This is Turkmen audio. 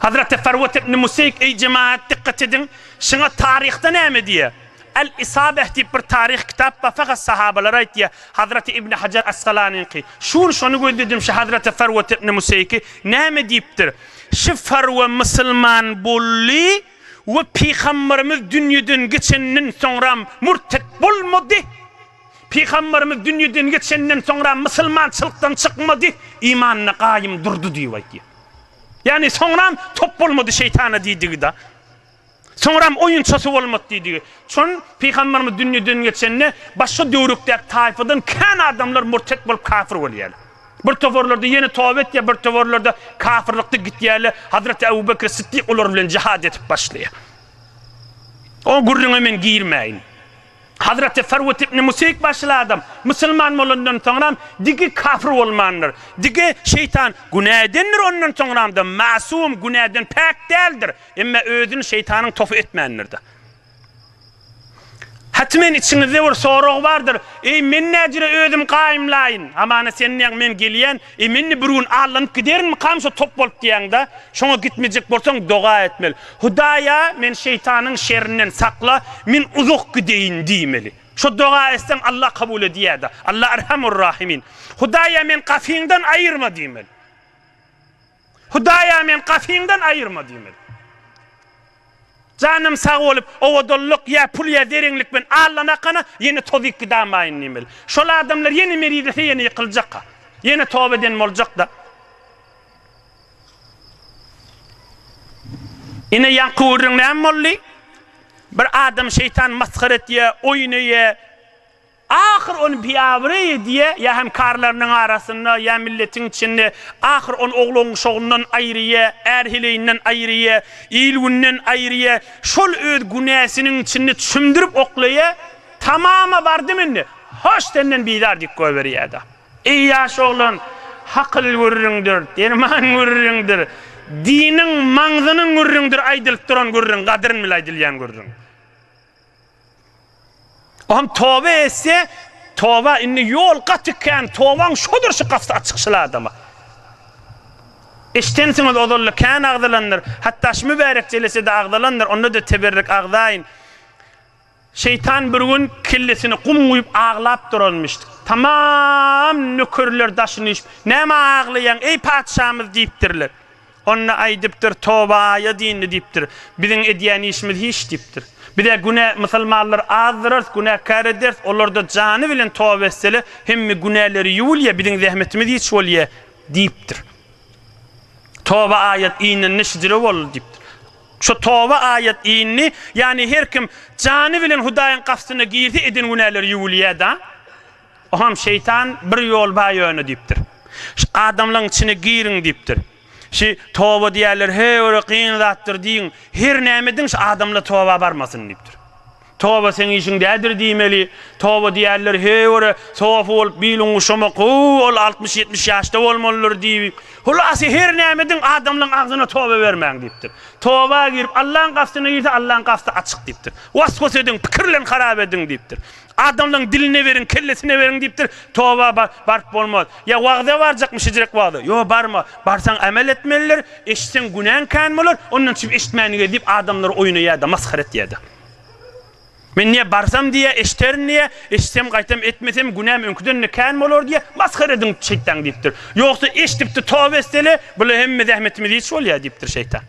Hazreti Farwat ibn Museýk, Eý jemaat, dykgat ediň, şuňa taryhda näme diýýär? Al-Isabeh diýip bir taryh kitap bar, fakat sahabalary aýtýar. Hazreti Ibn Hajar Asgalanyňky, Şuun şony gözledim, şu Hazreti Farwat ibn Museýki näme diýipdir? Şu Farwa musulman boldy we Pygamberimiz dünýeden geçenden soňram murtet bolmady. Pygamberimiz dünýeden geçenden soňra mysylmançylykdan çykmady, imanynda gaýym durdy diýip aýtýar. Ýagny soňram top bolmady şeýtana diýdigi-da. Soňram oýunçasy bolmady diýdigi. Çün pygamberimiz dünýeden geçende başga döwrükdäki taýfadan kän adamlar murtet bolup kafir bolýarlar. Bir toparlarda ýene toba etýär, bir toparlarda kafirlikde gitýärler. Hazreti Abu Bekr Siddik olar bilen jihad edip başlaýar. O gürrüňe men girmäýin. Hazreti Sarwut ibn Musyk başyly adam musulman bolandan soňram digi kafir bolmandyr. Digi, şeýtan, günä edendir ondan soňramda masum, günäden päk däldir. Emma özüni şeýtanyň topy etmändirda. Hatmen içiňizde bir sorag bardyr, Eý, men näjüre özüm gaýymlaýyn? Hamana sen näň, men gelýän, Eý, men-de bir gün allanyp giderinmikam şo top bolup diýýäň-dä? Şoňa gitmejek bolsaň, doga etmeli. Hudaýa, meni şeýtanyň şerinden sakla, men uzak gideýin diýmeli. Şo doga etseň, Alla kabul edýär-dä. Alla Erhamur-Rahimin. Hudaýa, meni gapyňdan aýyrma diýmeli. Hudaýa men gatyňdan aýyrma diýmeli. Janym sag bolup, owadanlyk ýa pul ýa zerenlik bilen allanakana ýene tozyp gidamaýyn diýmeli. Şol adamlar ýene merizlese ýene ýykyljakka. Ýene toba eden boljakda. Ine ýaňky gürrüň näme boldy? Bir adamy şeýtan masgara etýär, oýnaýar. Ahyr ony biabraý diýe, ýa hem karlarynyň arasynda, ýa milletiň içinde, ahyr ony oglan-uşagyndan aýryýe, är-heleýinden aýryýe, il-günden aýryýe, şol öz günäsiniň içinde çümdürip oklaýa, tamama bardym indi, hoş senden bizar diýip goýberýä-de. Eý ýaş oglan, hakyl gürrüňdir, derman gürrüňdir, diniň, maňzynyň gürrüňdir aýdylyp duran gürrüň, gadryn bile aýdylýan gürrüň. O hem toba etse, toba indi ýol gaty kän, tobaň şodur şu gapysy açyk şyl adama. Eşdensiňiz ozalda kän agzalandyr, hatda şu mübärek jelesede agzalandyr, onda-da teberrik agzaýyn. Şeýtan bir gün kellesini gum guýup aglap duranmyş. Tamam nökerler daşyny işip, Näme aglaýaň, eý patyşamyz diýipdirler. Onda aýdypdyr, Toba aýa dyndy diýipdir. Biziň edýän işimiz hiç diýipdir. Biz-ä günä, musulmanlar azdyrarys, günäkär ederis, olarda jany bilen toba etsele, hemme günäleri ýuwulýa, biziň zähmetimiz hiç bolýa diýipdir. Toba aýat inende şidire boldy diýipdir. Şo Toba aýat indi, ýagny her kim jany bilen Hudaýyň gapysyna girse eden günäleri ýuwulýa-da. Oham şeýtan bir ýol bar ýöne diýipdir. Şu adamlaň içine giriň diýipdir. Şi toba diýerler he ore gyn zatdyr diýiň. Her näme ediň şu adamla toba barmasyn diýipdir. Toba seň işiň dädir diýmeli. Toba diýerler he ore sofa bolup biluň guşamak hoo ol altmyş ýetmiş ýaşda bolmalydyr diýip. Hulasy her näme ediň adamlaň agzyna toba bermäň diýipdir. Toba girip Allaň gastyna girse Allaň gasty açyk diýipdir. Was-was ediň pikirlen harap ediň diýipdir. Adamlaň diline beriň, kellesine beriň diýipdir, toba ba, baryp bolmaz. Ýa wagza barjakmy şejirek wagza? Ýo barma. Barsaň amel etmelidir, eşitseň günäň kän bolar, ondan çüp eşitmän gez diýip adamlary oýuna ýa-da masgara etýärdi. Men diýýär barsam diýýär eşiterin diýýär, eşitsem gaýtam etmesem günäm öňküden-de kän bolar diýýär, masgara ediň şeýtan diýipdir. Ýogsa eşidipdi toba etsele, bula hemme zähmetimiz hiç bolýar diýipdir şeýtan.